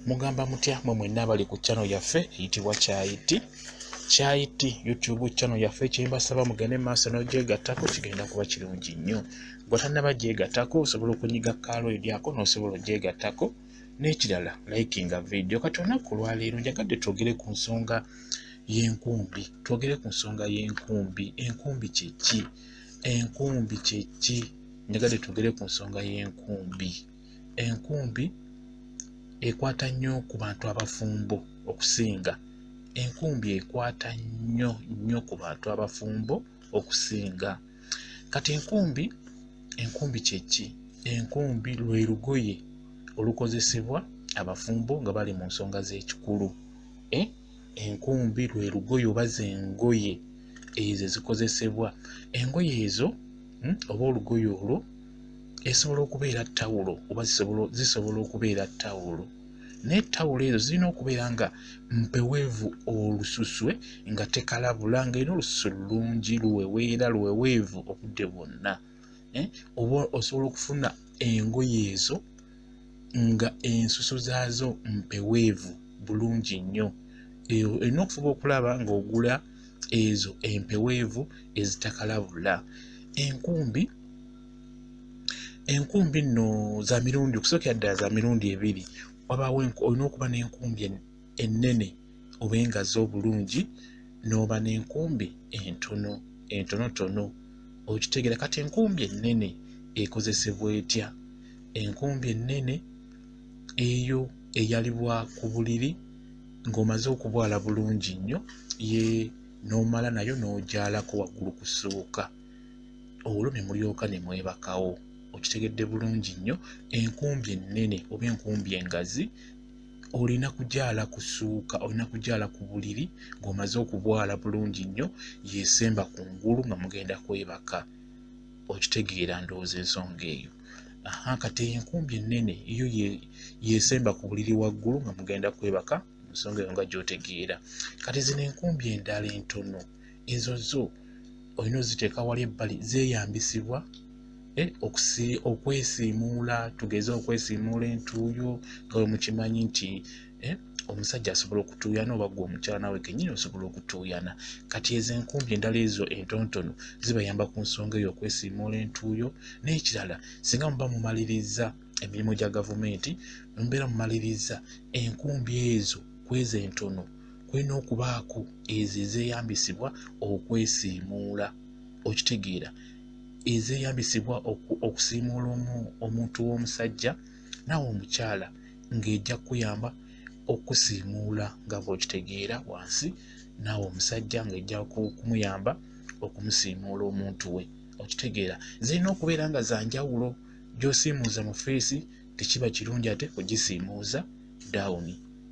mugamba mutya mwe mwenna abali ku channel yaffe eyitibwa kyayiti kyayiti youtube channel yaffe kyembasaba mugende maaso n'ogyegattako kigenda kuba kirungi nnyo gwe tannaba gyegattako osobola okunyiga kaalo eryako n'osobola ogyegattako n'ekirala likinga vidiyo kati olunaku olwaleero njagadde twogere ku nsonga y'enkumbi twogere ku nsonga y'enkumbi enkumbi kyeki enkumbi kyeki njagadde twogere ku nsonga y'enkumbi enkumbi ekwata nnyo ku bantu abafumbo okusinga enkumbi ekwata nnyo nnyo ku bantu abafumbo okusinga kati enkumbi enkumbi kyeki enkumbi lwe lugoye olukozesebwa abafumbo nga bali mu nsonga z'ekikulu eh? enkumbi lwe lugoye oba zengoye ezo ezikozesebwa engoye ezo hmm, oba olugoye olwo esobola okubeera tawulo oba zisobola okubeera tawulo naye tawulo ezo zirina okubeera nga mpeweevu olususwe nga tekalabula nga era olususu lulungi luweweera luweweevu obudde bwonna eh, oba osobola okufuna engoye ezo nga ensusu zaazo mpeweevu bulungi nnyo eyo olina okufuba okulaba ng'ogula ezo empeweevu ezitakalabula enkumbi enkumbi nno za mirundi okusookera ddala za mirundi ebiri wabaawo olina okuba n'enkumbi ennene oba engazi obulungi n'oba n'enkumbi entono entonotono okitegera kati enkumbi ennene ekozesebwa etya enkumbi ennene eyo eyalibwa ku buliri ng'omaze okubwala bulungi nnyo ye n'omala nayo n'ogyalako waggulu kusooka olwo ne mulyoka ne mwebakawo okitegedde bulungi nnyo enkumbi ennene oba enkumbi engazi olina kujaala ku suuka olina kujaala ku buliri ng'omaze okubwala bulungi nnyo yesemba ku ngulu nga mugenda kwebaka okitegeera ndowooza ensonga eyo aha kati eyo enkumbi ennene eyo yesemba ku buliri waggulu nga mugenda kwebaka ensonga eyo nga gyotegeera kati zino enkumbi endala entono ezo zo olina oziteeka wali ebbali zeeyambisibwa eh, okwesiimuula tugeze okwesiimuula entuuyo nga we mukimanyi nti eh, omusajja asobola okutuuyana oba gwe omukyala nawe kenyini osobola okutuuyana kati ezo enkumbi endala ezo entontono zibayamba ku nsonga eyo okwesiimuula entuuyo n'ekirala singa muba mumaliriza emirimu gya gavumenti mubeera mumaliriza enkumbi ezo kweza entono kulina okubaako ezo ezeyambisibwa okwesiimuula okitegeera ezeyambisibwa okusiimuula omuntu w'omusajja naawe omukyala ng'ejja kukuyamba okusiimuula nga bwokitegeera wansi naawe omusajja ng'ejja kumuyamba okumusiimuula omuntu we okitegeera zirina okubeera nga zanjawulo gyosiimuuza mu feesi tekiba kirungi ate kugisiimuuza down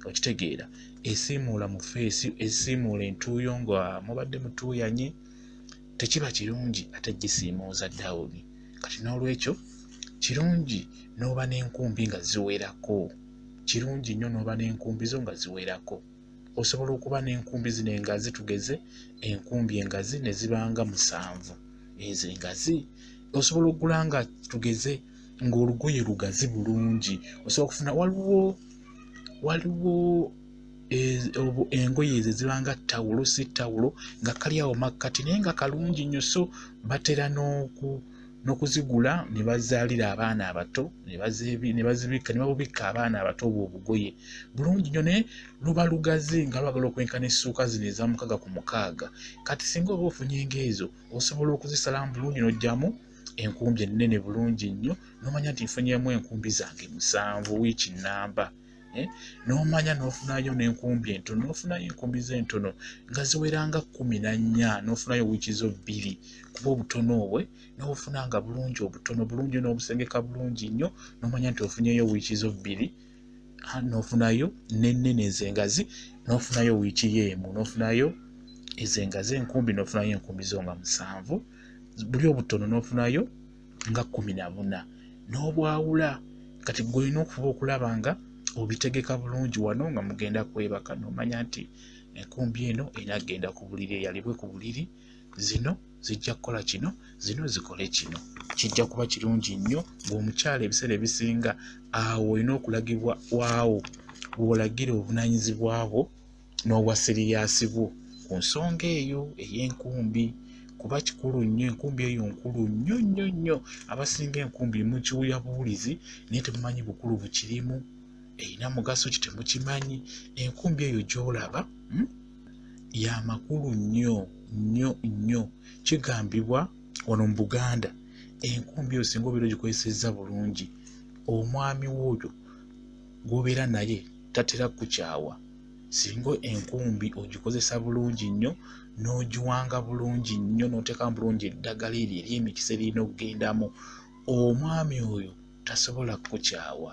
okitegeera esiimuula mu feesi esiimuula entuuyo nga mubadde mutuuyanye tekiba kirungi ate gisiimuuza down kati n'olwekyo kirungi n'oba n'enkumbi nga ziwerako kirungi nnyo n'oba n'enkumbi zo nga ziwerako osobola okuba n'enkumbi zino engazi tugeze enkumbi engazi ne zibanga musanvu ezo engazi osobola okugula nga tugeze ng'olugoye lugazi bulungi osobola okufuna waliwo waliwo engoye ezo ziba nga tawulo si tawulo nga kali awo makkati naye nga kalungi nnyo so batera n'oku n'okuzigula ne bazaalira abaana abato ne bazibikka ne babubikka abaana abato obwo obugoye bulungi nnyo naye luba lugazi nga lwagala okwenkana essuuka zino eza mukaaga ku mukaaga kati singa oba ofunye engaezo osobola okuzisalamu bulungi n'ojjamu enkumbi ennene bulungi nnyo nomanya nti nfunyemu enkumbi zange musanvu wiiki namba eh? nomanya nofunayo nenkumbi entono nofunayo enkumbi zentono nga ziweranga kumi nanya nofunayo wiiki zo bbiri kuba obutono obwe nobufuna nga bulungi obutono bulungi nobusengeka bulungi nnyo nomanya nti ofunyeyo wiiki zo bbiri ah, nofunayo nenene ezengazi nofunayo wiiki yo emu nofunayo ezengazi enkumbi nofunayo enkumbi zo nga musanvu buli obutono n'ofunayo nga kumi na buna n'obwawula kati gwe olina okuba okulaba nga obitegeka bulungi wano nga mugenda kwebaka nomanya nti enkumbi eno enagenda ku buliri eyalibwe ku buliri zino zijja kukola kino zino zikole kino kijja kuba kirungi nnyo ng'omukyala ebiseera ebisinga awo olina okulagibwa waawo wolagira obunanyizibwabwo n'obwa siriyaasi bwo ku nsonga eyo ey'enkumbi kuba kikulu nnyo enkumbi eyo nkulu nnyo nnyo nnyo abasinga enkumbi mukiwulira buwulizi naye temumanyi bukulu bukirimu erina mugaso ki temukimanyi enkumbi eyo gy'olaba hmm? ya makulu nnyo nnyo nnyo kigambibwa wano mu buganda enkumbi eyo singa obeera ogikozesezza bulungi omwami wooyo gw'obeera naye tatera kukyawa singa enkumbi ogikozesa bulungi nnyo n'ogiwanga bulungi nnyo n'oteekamu bulungi eddagala eryo ery'emikisa eririna okugendamu omwami oyo tasobola kukukyawa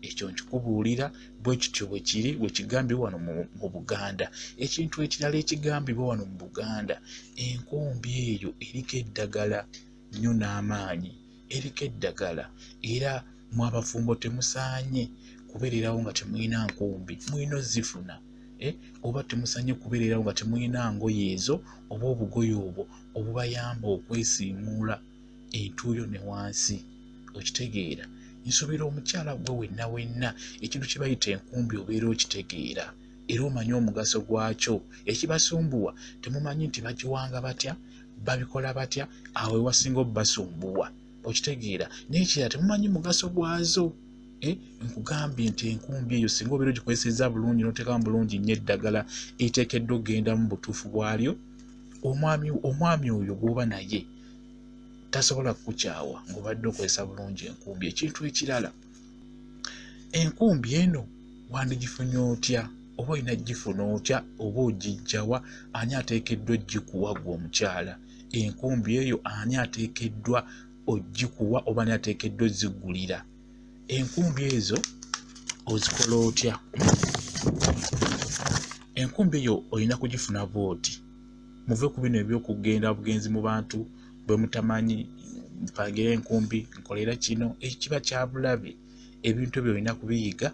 ekyo nkikubuulira bwe kityo bwe kiri bwe kigambibwa wano mu buganda ekintu ekirala ekigambibwa wano mu buganda enkumbi eyo eriko eddagala nnyo n'amaanyi eriko eddagala era mu abafumbo temusaanye kubeererawo nga temulina nkumbi mulina ozifuna eh, oba temusanye kubeererawo nga temulina ngoye ezo oba obugoye obwo obubayamba okwesiimuula entuuyo ne wansi okitegeera nsuubira omukyala gwe wenna wenna ekintu kye bayita enkumbi obeera okitegeera era omanye omugaso gwakyo ekibasumbuwa temumanyi nti bagiwanga batya babikola batya awo ewasinga obubasumbuwa okitegeera naye ekirala temumanyi mugaso gwazo eh, nkugambye nti enkumbi eyo singa obeera ogikozeseza bulungi notekamu bulungi nnyo eddagala etekeddwa okugenda mu butuufu bwalyo omwami oyo gwoba naye tasobola kukukyawa ngaobadde okozesa bulungi enkumbi ekintu ekirala enkumbi eno wandigifunye otya oba olina gifuna otya oba ogijjawa ani ateekeddwa ogikuwa gwe omukyala enkumbi eyo ani ateekeddwa ogikuwa oba ani ateekeddwa ozigulira enkumbi ezo ozikola otya enkumbi eyo olina kugifuna bwoti muve ku bino ebyokugenda bugenzi mu bantu bwe mutamanyi mpangire enkumbi nkolera kino ekiba kyabulabe ebintu ebyo olina kubiyiga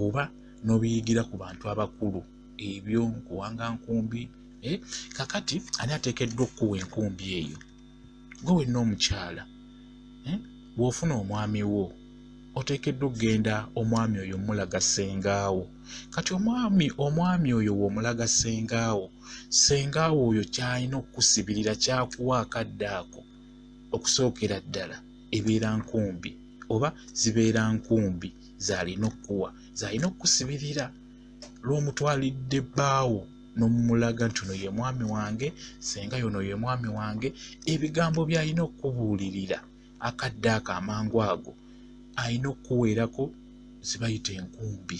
oba n'obiyigira ku bantu abakulu ebyo nkuwanga nkumbi eh, kakati ani ateekeddwa okukuwa enkumbi eyo gwe wenna omukyala eh, bw'ofuna omwami wo oteekeddwa okugenda omwami oyo omulaga ssengaawo kati omwami omwami oyo w'omulaga ssengaawo ssenga awo oyo kyalina okukusibirira kyakuwa akadde ako okusookera ddala ebeera nkumbi oba zibeera nkumbi zalina okukuwa zalina okukusibirira lwomutwalidde bbaawo nomumulaga nti ono ye mwami wange senga yono ye mwami wange ebigambo byalina okukubuulirira akadde ako amangu ago alina okukuweerako zibayita enkumbi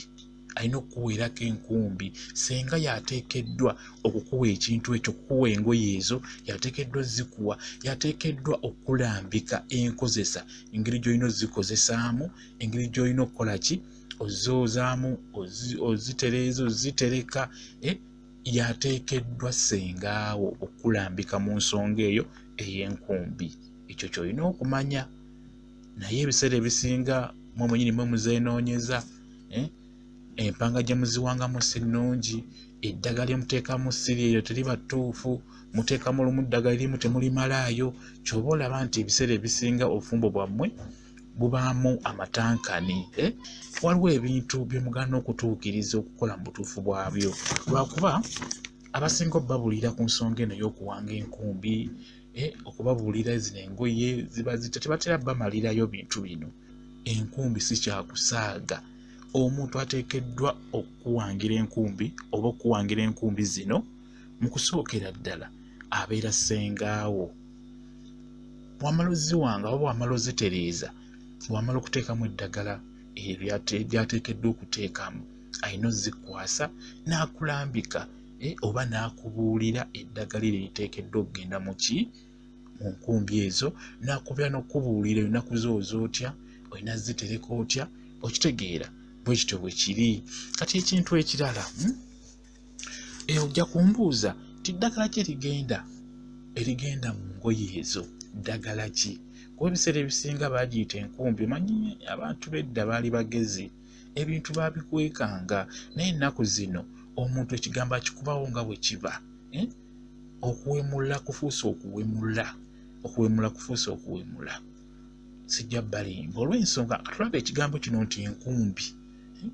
alina okukuweerako enkumbi senga yateekeddwa okukuwa ekintu ekyo kukuwa engoye ezo yateekeddwa zikuwa yateekeddwa okulambika enkozesa engeri gy'olina ozikozesaamu engeri gy'olina okukola ki ozoozaamu ozitereeza ozitereka eh, yateekeddwa sengaawo okulambika mu nsonga eyo ey'enkumbi ekyo kyolina okumanya naye ebiseera ebisinga mwe mwenyini mwe muzenoonyeza eh? empanga gye muziwangamu si nnungi eddagala lyemuteekamu siri eryo teriba ttuufu muteekamu olumu ddagala erimu temulimalaayo kyoba olaba nti ebiseera ebisinga obufumbo bwammwe bubaamu amatankani eh? waliwo ebintu byemugana okutuukiriza okukola mu butuufu bwabyo lwakuba abasinga obubabulira ku nsonga eno y'okuwanga enkumbi eh, okubabuulira zino engoye ziba zita tebatera bamalirayo bintu bino enkumbi si kyakusaaga omuntu ateekeddwa okuwangira enkumbi oba okuwangira enkumbi zino mu kusookera ddala abeera ssengaawo wamala oziwanga oba wamala ozitereeza wamala okuteekamu eddagala ebyo byateekeddwa okuteekamu alina ozikwasa n'akulambika eh, oba n'akubuulira eddagala eryo liteekeddwa okugenda mu ki mu nkumbi ezo n'akubeera n'okukubuulira ennaku zo oza otya olina zitereka otya okitegeera bwe kityo bwe kiri kati ekintu ekirala hmm? eh, ojja kumbuuza ti ddagala kye ligenda erigenda mu ngoye ezo ddagala ki kuba ebiseera ebisinga baagiyita enkumbi omanyi abantu bedda baali bagezi ebintu babikwekanga naye ennaku zino omuntu ekigambo akikubawo nga bwe kiba eh? okuwemula kufuusa okuwemula okuwemula kufuusa okuwemula sijja balimba olw'ensonga katulaba ekigambo kino nti enkumbi eh?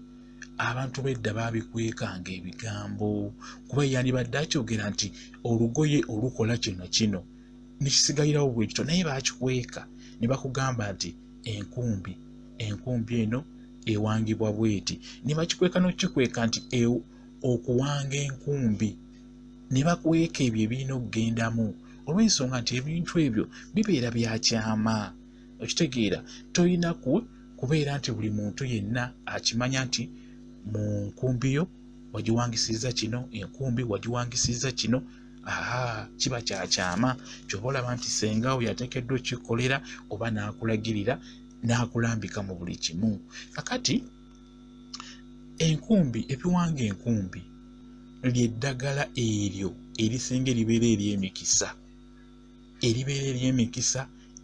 abantu bedda babikwekanga ebigambo kuba yandibadde akyogera nti olugoye olukola kino kino nekisigalirawo bwekito naye bakikweka ne bakugamba nti enkumbi enkumbi eno ewangibwa bweti ne bakikweka n'okikweka nti e, okuwanga enkumbi ne bakweka ebyo ebirina okugendamu olw'ensonga nti ebintu ebyo bibeera bya kyama okitegeera tolina ku kubeera nti buli muntu yenna akimanya nti mu nkumbi yo wagiwangisizza kino enkumbi wagiwangisizza kino aa kiba kyakyama kyoba olaba nti senga oyo atekeddwa okikolera oba n'akulagirira n'akulambika mu buli kimu kakati enkumbi ebiwanga enkumbi lyeddagala eryo erisinga eribeera ery'emikisa eribeera ery'emikisa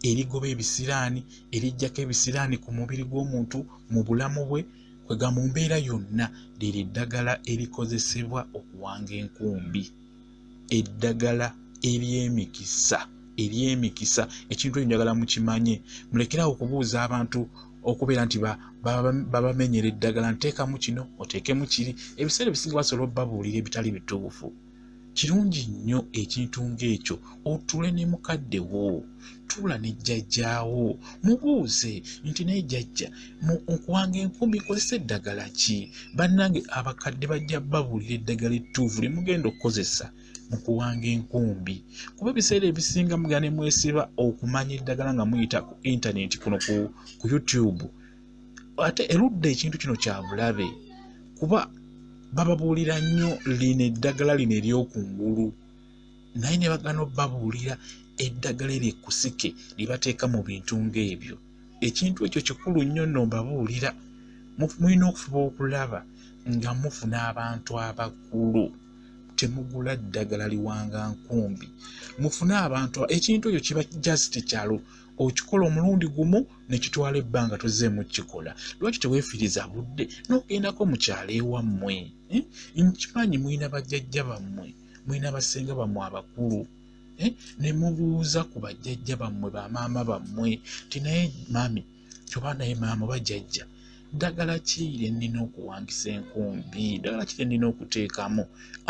erigoba ebisiraani erijjako ebisiraani ku mubiri gw'omuntu mu bulamu bwe kwega mu mbeera yonna liri eddagala erikozesebwa okuwanga enkumbi eddagala ery'emikisa ery'emikisa ekintu ekyo njagala mukimanye mulekerawo okubuuza abantu okubeera nti babamenyera eddagala nteekamu kino oteekemu kiri ebiseera ebisinga basobola obabuulira ebitali bituufu kirungi nnyo ekintu ng'ekyo otuule ne mukadde wo tuula ne jjajjaawo mubuuze nti naye jjajja nkuwanga enkumi kozesa eddagala ki bannange abakadde bajja babuulira eddagala ettuufu lye mugenda okukozesa mu kuwanga enkumbi kuba ebiseera ebisinga mugane mwesiba okumanya eddagala nga muyita ku intaneti kuno ku youtube ate erudda ekintu kino kya bulabe kuba bababuulira nnyo lino eddagala lino ery'oku ngulu naye ne bagana obabuulira eddagala eryo ekkusike lye bateeka mu bintu ng'ebyo ekintu ekyo kikulu nnyo nno mbabuulira mulina okufuba okulaba nga mufuna abantu abakulu temugula ddagala liwanga nkumbi mufune abantu ekintu ekyo kiba just kyalo okikola omulundi gumu nekitwala ebbanga tozeemu kikola lwaki teweefiriza budde n'ogendako mu kyalo ewammwe eh? nkimanyi mulina bajjajja bammwe mulina basenga bammwe abakulu eh? ne mubuuza ku bajjajja bammwe bamaama bammwe ti naye maami oba naye maama oba jjajja ddagala ki lye nnina okuwangisa enkumbi ddagala ki lye nnina okuteekamu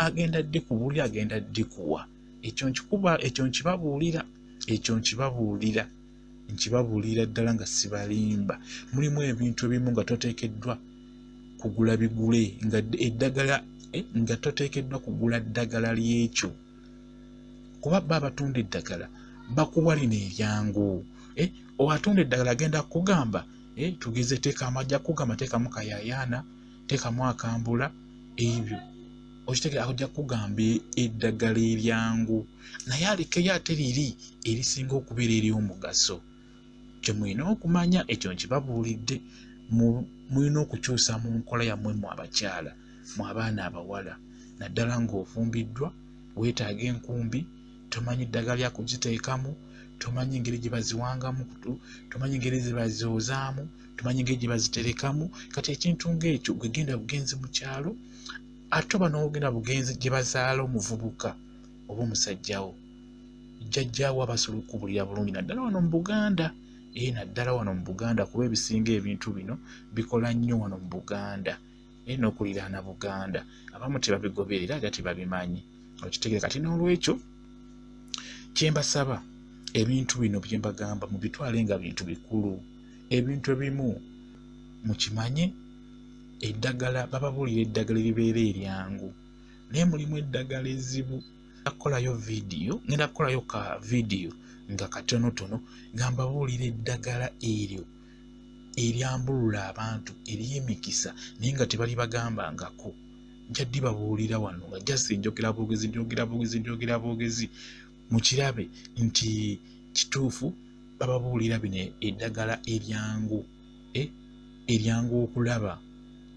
agenda ddi ku buli agenda ddi kuwa ekyo nkikuba ekyo nkibabuulira ekyo nkibabuulira nkibabuulira ddala nga sibalimba mulimu ebintu ebimu nga toteekeddwa kugula bigule nga eddagala eh, nga toteekeddwa kugula ddagala ly'ekyo kuba ba abatunda eddagala bakuwa lino eryangu eh, oatunda eddagala agenda kukugamba eh, tugeze teeka amajja kukugamba teekamu kayayaana tekamu akambula ebyo okitegera akujja kugamba eddagala eryangu naye alekeyo ate liri erisinga okubeera ery'omugaso kye mulina okumanya ekyo nkibabuulidde mulina okukyusa mu nkola yammwe mu abakyala mu abaana abawala naddala ng'ofumbiddwa weetaaga enkumbi tomanyi ddagala lya kugiteekamu tomanyi engeri gye baziwangamu kutu tomanyi engeri ze bazoozaamu tumanyi ngeri gye baziterekamu kati ekintu ng'ekyo gwegenda bugenzi mu kyalo ate oba n'ogenda bugenzi gye bazaala omuvubuka oba omusajjawo jjajjaawo abasobola okukubulira bulungi naddala wano mu buganda ee naddala wano mu buganda kuba ebisinga ebintu bino bikola nnyo wano mu buganda naye n'okuliraana buganda abamu tebabigoberera era tebabimanyi okitegere kati n'olwekyo kyembasaba ebintu bino byembagamba mubitwale nga bintu bikulu ebintu ebimu mukimanye eddagala bababuulira eddagala eribeera eryangu naye mulimu eddagala ezibu akolayo vidiyo ngenda kukolayo ka vidiyo nga katonotono nga mbabuulira eddagala eryo eryambulula abantu eryemikisa naye nga tebali bagambangako njaddi babuulira wano nga jasi enjogera bwogezi njogera bwogezi njogera bwogezi mukirabe nti kituufu bababuulira bino eddagala eryangu eh, eryangu okulaba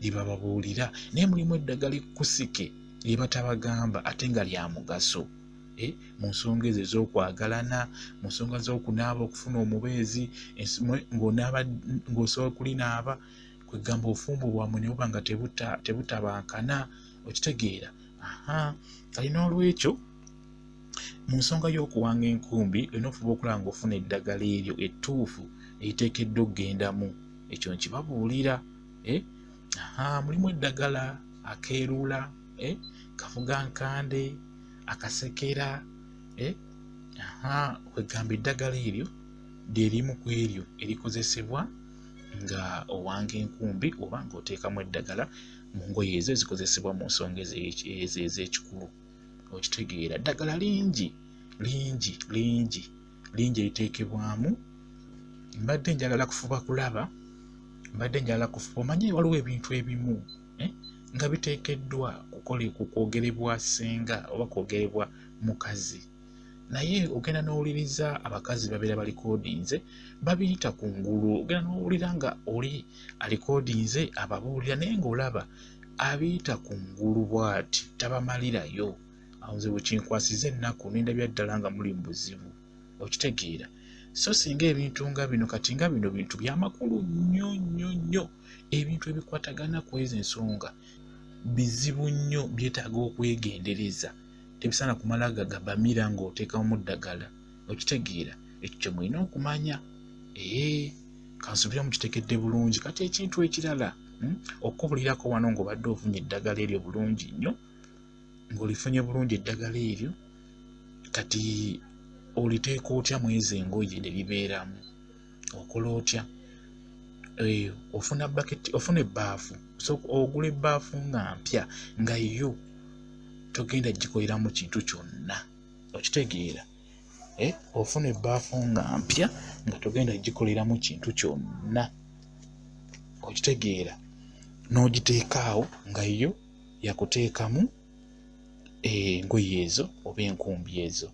lyebababuulira naye mulimu eddagala ekkusike lyebatabagamba ate nga lya mugaso Eh, mu nsonga ezo ez'okwagalana mu nsonga z'okunaaba okufuna omubeezi ng'osobola kulinaaba kwegamba obufumbo bwamwe ne buba nga tebutabankana okitegeera kali n'olwekyo mu nsonga y'okuwanga enkumbi olina okufuba okulaba ng'ofuna eddagala eryo ettuufu eriteekeddwa okugendamu ekyo nkibabuulira eh, mulimu eddagala akeeruula eh? kafuga nkande akasekera eh? aha kwegamba eddagala eryo lyerimu ku eryo erikozesebwa nga owanga enkumbi oba nga oteekamu eddagala mu ngoye ezo ezikozesebwa mu nsonga ezo ez'ekikulu okitegeera ddagala lingi lingi lingi lingi eriteekebwamu mbadde njagala kufuba kulaba mbadde njagala kufuba omanye waliwo ebintu ebimu eh, nga biteekeddwa ku kwogerebwa ssenga oba kwogerebwa mukazi naye ogenda n'owuliriza abakazi babeera balikodinze babiyita ku ngulu ogenda n'owulira nga oli alikodinze ababuulira naye ng'olaba abiyita ku ngulu bw'ati tabamalirayo awo nze bwekinkwasiza ennaku nendabya ddala nga muli mu buzibu okitegeera so singa ebintu nga bino kati nga bino bintu byamakulu nnyo nnyo nnyo ebintu ebikwatagana ku ezo ensonga bizibu nnyo byetaaga okwegendereza tebisaana kumala gagabamira ng'oteekamu ddagala okitegeera ekyo kye mulina okumanya ee kansubira mukitegedde bulungi kati ekintu ekirala hmm, okukubulirako wano ng'obadde ofunye eddagala eryo bulungi nnyo ng'olifunye bulungi eddagala eryo kati oliteeka otya mwezi engoye ne libeeramu okola otya eh, ofuna bucket ofuna ebbaafu ogula ebbaafu nga mpya nga yo togenda gikoleramu kintu kyonna okitegeera eh, ofuna ebbaafu nga mpya nga togenda gikoleramu kintu kyonna okitegeera n'ogiteekaawo nga yo yakuteekamu eh, engoye ezo oba enkumbi ezo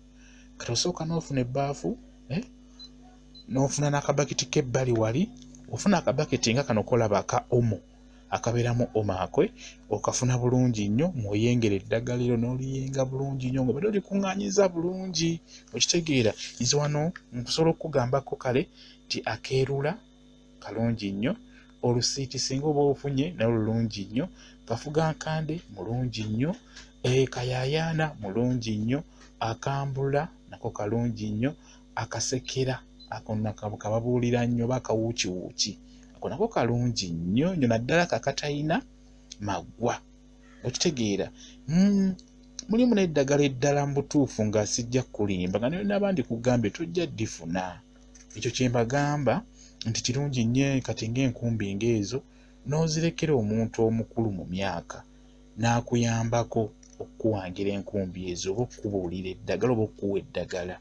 kati osooka n'ofuna ebbaafu eh, n'ofuna n'akabakiti k'ebbali wali ofuna akabakiti nga kano kolaba aka omo akabeeramu omo akwe okafuna bulungi nnyo ng'oyengera eddagala ero n'oliyenga bulungi nnyo ng'obadde olikuŋŋaanyiza bulungi okitegeera nze wano nkusobola okukugambako kale nti akeerula kalungi nnyo olusiiti singa oba ofunye naye lulungi nnyo kafuga nkande mulungi nnyo eh, kayayaana mulungi nnyo akambula nako kalungi nnyo akasekera akokababuulira nnyo oba akawuukiwuuki ako nako kalungi nnyo nyo naddala kakatalina maggwa okitegeera hmm, mulimu n'eddagala eddala mu butuufu nga sijja kukulimba nga nayo n'abandi kugambye tojja ddifuna ekyo kyembagamba nti kirungi nnyo kati ng'enkumbi ng'ezo n'ozirekera omuntu omukulu mu myaka n'akuyambako okukuwangira enkumbi ezo oba okukubuulira eddagala oba okukuwa eddagala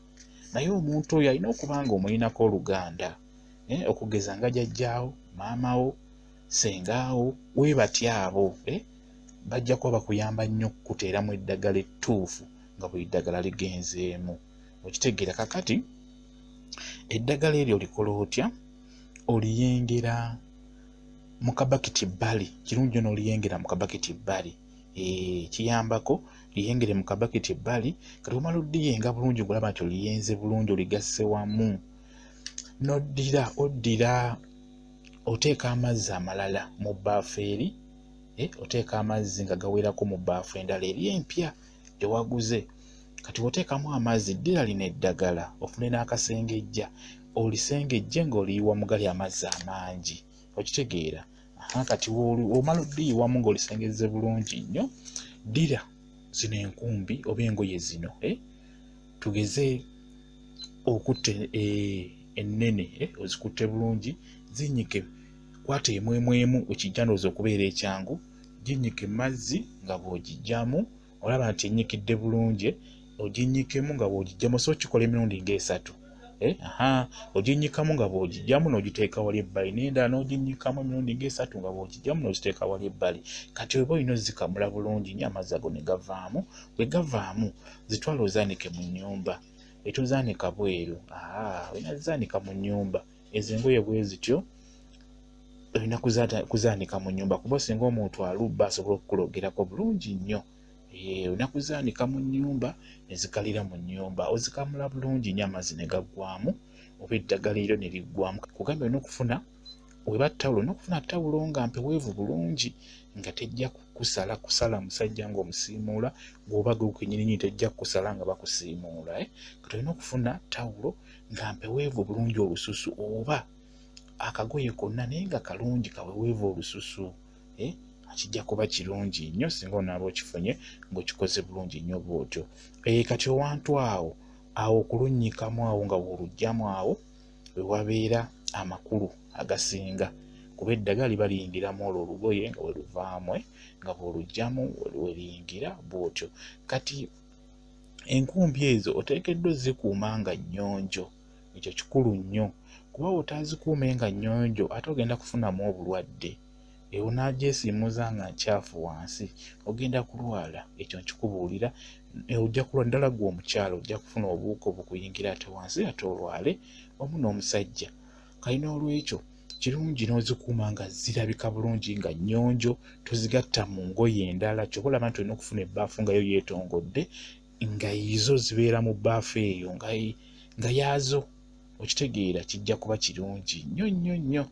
naye omuntu oyo alina okuba nga omulinako oluganda eh, okugeza nga jajjaawo maamawo sengaawo webati abo eh, bajja kuba bakuyamba nnyo okukuteeramu eddagala ettuufu nga buli ddagala ligenzeemu okitegeera kakati eddagala eryo olikola otya oliyengera mu kabakiti bbali kirungi yona oliyengera mu kabakiti bbali eh, kiyambako liyengere mu kabakiti bbali kati omala odiyenga bulungi ngolaba nti oliyenze bulungi oligasse wamu noddira oddira oteeka amazzi amalala mu bbaafu eri eh, oteeka amazzi nga gawerako mu bbaafu endala eri empya ewaguze kati woteekamu amazzi ddira lino eddagala ofune n'akasengejja olisengejje ng'oliyiwa mugali amazzi amangi okitegeera kati omala oddiyiwamu ng'olisengezze bulungi nnyo ddira zino enkumbi oba engoye zino eh? tugeze okutta eh, ennene eh, ozikutte bulungi zinyike kwata emwemwemu ekijjandoza okubeera ekyangu ginyike mazzi nga bw'ogijjamu olaba nti enyikidde bulungi oginyikemu nga bw'ogijjamu so kikola emirundi ng'esatu eh, aha oginyikamu nga bw'ogijjamu n'ogiteeka wali ebbali n'endala n'oginyikamu emirundi ng'esatu nga bw'ogijjamu n'ogiteeka wali ebbali kati oba olina ozikamula bulungi nyo amazzi ago ne gavaamu bwe gavaamu zitwala ozaanike mu nnyumba etuzaanika bweru aa ah, olina zaanika mu nnyumba ezo engoye bwe zityo olina kuzaanika mu nyumba kuba singa omuntu alubba asobola okukulogerako bulungi nnyo eh, olina kuzaanika mu nyumba nezikalira mu nyumba ozikamula bulungi nyo amazzi ne gaggwamu oba eddagala eryo ne liggwamu kugamba olina okufuna weba tawulo olina okufuna tawulo nga mpeweevu bulungi nga tejja kukusala kusala musajja ng'omusiimuula gwoba gwekenyininyini tejja kukusala nga bakusiimuula eh? kati olina okufuna tawulo nga mpeweevu obulungi olususu oba akagoye konna naye nga kalungi kaweweevu olususu eh? kijja kuba kirungi nnyo singa onaaba okifunye ng'okikoze bulungi nnyo bwotyo ee eh, kati owantu awo awo okulunnyikamu awo nga woolugjamu awo we wabeera amakulu agasinga kuba eddaga liba liyingiramu olwo olugoye nga we luvaamu eh, nga bw'olugjamu weriyingira bwotyo kati enkumbi ezo oteekeddwa ozikuuma nga nnyonjo ekyo kikulu nnyo kuba bw'otaazikuume nga nnyonjo ate ogenda kufunamu obulwadde ewo n'agyesiimuza nga nkyafu wansi ogenda kulwala ekyo nkikubuulira e, ojja kulwa ddala gwe omukyalo ojja kufuna obuuka obukuyingira ate wansi ate olwale wamu n'omusajja kali n'olwekyo kirungi n'ozikuuma nga zirabika bulungi nga nnyonjo tozigatta mu ngoye endala kyoba olaba nti olina okufuna ebbaafu nga yo yeetongodde nga izo zibeera mu bbaafu eyo nga yaazo okitegeera kijja kuba kirungi nnyo nnyo nnyo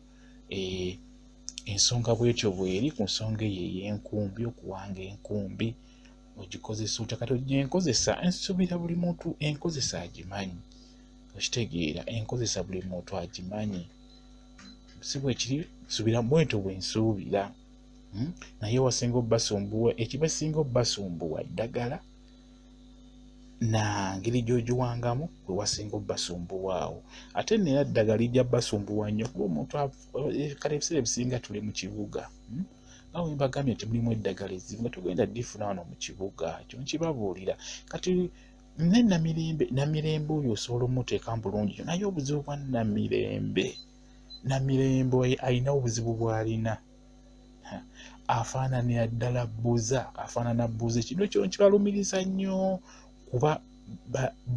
eh, ensonga bwetyo bweri ku nsonga eyo ey'enkumbi okuwanga enkumbi ogikozesa otya kati ogienkozesa nsubira buli muntu enkozesa agimanyi okitegeera enkozesa buli muntu agimanyi si bwekiri subira bwentyo bwensuubira hmm? naye wasinga obbasumbuwa ekibasinga obbasumbuwa eddagala na ngeri gyogiwangamu wewasinga obbasumbuwaawo ate nera ddagala ijja basumbuwa nnyo kuba omuntu eh, kale ebiseera ebisinga tuli mu kibuga hmm? nga wembagambye nti mulimu eddagala ezimu nga tugenda difuna wano mu kibuga ekyo nkibabuulira kati ne namirembe namirembe oyo osobola omuteekamu bulungi naye obuzibu bwa namirembe namirembe oyo alina obuzibu bwalina afaananira ddala buza afaanana buza ekino kino kibalumiriza nnyo kuba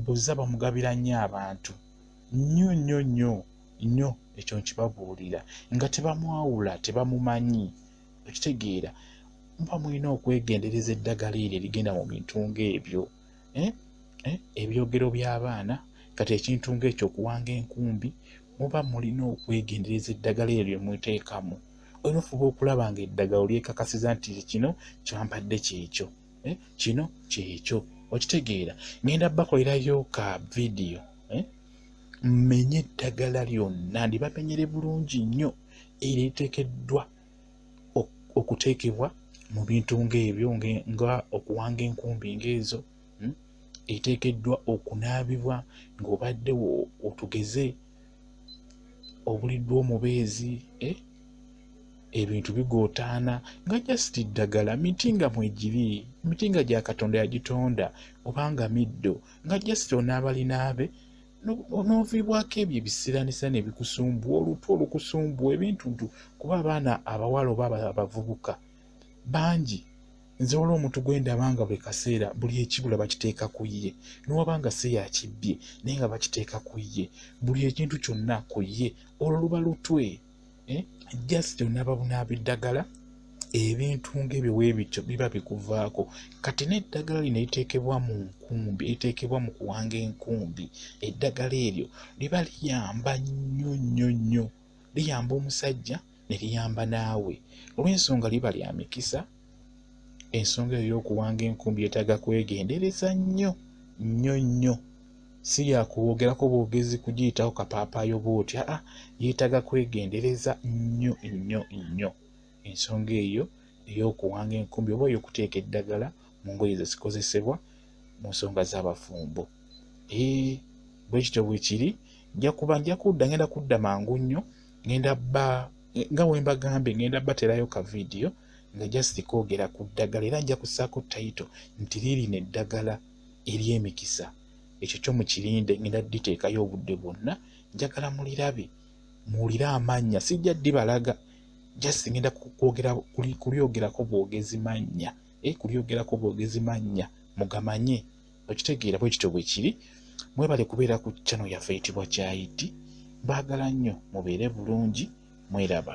buza bamugabira nnyo abantu nnyo nnyo nnyo nnyo ekyo nkibabuulira nga tebamwawula tebamumanyi okitegeera muba mulina okwegendereza eddagala eryo erigenda mu bintu ng'ebyo eh? Eh? ebyogero by'abaana kati ekintu ng'ekyo okuwanga enkumbi muba mulina okwegendereza eddagala eryo lyemuteekamu olina ofuba okulaba nga eddagala olyekakasiza nti kino kyampadde kyekyo eh? kino kyekyo okitegeera ngenda bakolerayo ka vidiyo mmenye eddagala lyonna ndibamenyere bulungi nnyo eritekeddwa okuteekebwa mu bintu ng'ebyo nga okuwanga enkumbi ng'ezo hmm, eteekeddwa okunaabibwa ng'obadde otugeze obuliddwa omubeezi eh, ebintu bigootaana nga just ddagala miti nga mwegiri miti nga gya katonda yagitonda obanga middo nga just onaabalinaabe n'oviibwako ebyo ebisiranisa nebikusumbua olutu olukusumbua ebintu ntu kuba abaana abawala oba abavubuka bangi nze waliwo omuntu gwendaba nga buli kaseera buli ekibula bakiteeka ku ye newaba nga se yakibbye naye nga bakiteeka ku ye buli ekintu kyonna ku ye olwo luba lutwe eh? just onababunaba eddagala ebintu ngaebyo webityo biba bikuvaako kati neddagala lino liteekebwa mu nkumbi liteekebwa mu kuwanga enkumbi eddagala eryo liba liyamba nnyo nnyo nnyo liyamba omusajja ne liyamba naawe olw'ensonga liba lya mikisa ensonga eyo y'okuwanga enkumbi yetaaga kwegendereza nnyo nnyo nnyo si yakwogerako bwogezi kugiyitawo kapaapaayo bwoti aa yeetaaga kwegendereza nnyo nnyo nnyo ensonga eyo ey'okuwanga enkumbi oba ey'okuteeka eddagala mu ngoye zezikozesebwa mu nsonga z'abafumbo ee bwe kityo bwe kiri nja kuba nja kudda ngenda kudda mangu nnyo ngenda bba nga wembagambye ngenda baterayo ka vidiyo nga just koogera ku ddagala era nja kusaako tayito nti liirino eddagala ery'emikisa ekyo kyo mukirinde ngenda diteekayo obudde bwonna njagala mulirabe muwulire amannya sijja dibalaga just ngenda kwogera kulyogerako bwogezi mannya eh, kulyogerako bwogezi mannya mugamanye okitegeera bwe kityo bwe kiri mwebale kubeera ku chano yaffe eyitibwa kyayiti mbaagala nnyo mubeere bulungi mweraba